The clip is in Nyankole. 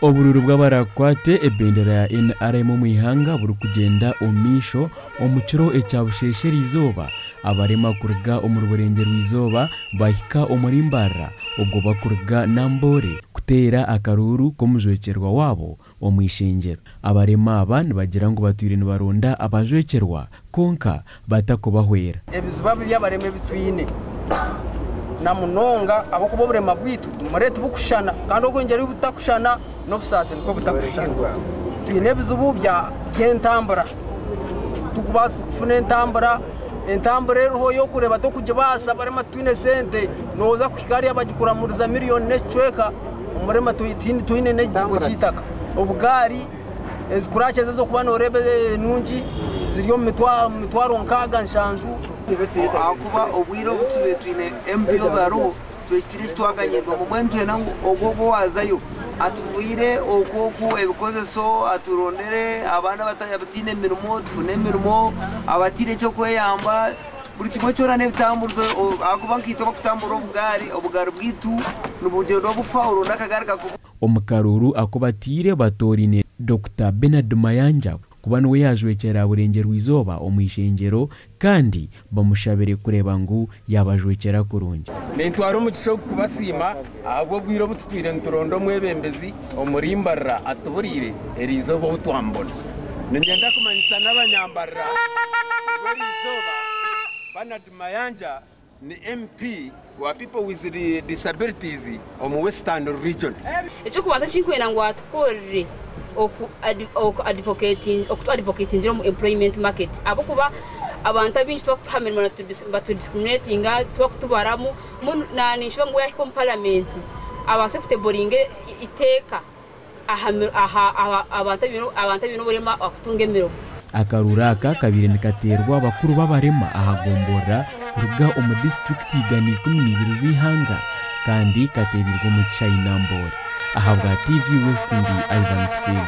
Oburuuru bw'abarakwate ebendera ya NRM omu ihanga burikugyenda omu maisho omu kiro ekya busheesha erizooba abarema kuruga omuri burengye rw'eizooba bahika omuri Mbarara obwo bakuruga Namboole kuteera akaruuru k'omujwekyerwa waabo Omu ishengyero, abarema aba nibagira ngu batwire nibaronda abajwekyerwa kwonka batakubahwera. Ebizibu abu by'abarema ebi twine, na munonga ahabw'okuba oburema bwaitu tumurire tibukushushana kandi obwengyeru obu butakushushana, n'obusaasi nikwo butakushushana. Twine ebizibu by'entambura, tikubaasa kufuna entambura, entambura eriho y'okureeba tokugibaasa, abarema titwine sente, noza kuhika hariya bagikuramuriza miriyoni n'ekicweka. Omurema twine n'ekigo ky'eitaka. Obugaari, ezikurakyeza ez'okuba noreeba enungi ziri omu mitwaro nkaaga nshanju. Ahakuba obwire obu twibaire twine embi obu hariho twehikire eki twaganyirwamu. Mbwenu nitwenda ngu ogwo ogwo owaazayo atubwire okwo okwo ebikozeso, aturondere abaana abataine mirimo tufune emirimo, abataine eky'okweyamba. buri kimwe kyona n'ebitamburizo ahakuba nkaitwe abarikutamburira obugaari, obugaari bwaitu nibugyendwa bufa orwo n'akagaari kakuba. Omu karuuru aku bataire batooraine Dokita Bernard Mayanja kuba niwe yaajwekyera aha burengyerwa-izooba omu ishengyero kandi bamushabire kureeba ngu yaabajwekyera kurungi. Nintwara omugisha ogu kubasiima. Ahabw'obwire obu tutwire nituronda omwebembezi omuri Mbarara atuburire erizooba ou twamubona. Ninyenda kumanyisa n'abanyambarara ngu erizooba Bernard Mayanja ni MP wa People with Disabilities omu Western Region. Eky'okubanza eki nkwenda ngu atukorere oku advocatingire omu employment market ahabw'okuba abantu abaingi tibakutuha mirimo nibatudiscriminatinga tibakutubaramu. Mbwenu naanye ninshuba ngu yaahika omu Paramenti abaase kuteboringa eiteeka aha bantu abaine oburema kutunga emirimo. Akaruuru aka kabaire nikateerwa abakuru b'abarema aha gomborora kuruga omu disiturikiti igana ikumi n'eibiri z'eihanga kandi kateebeirwe omu kishaayi Namboole. Ahabwa TV West ndi Ivan Kusingye.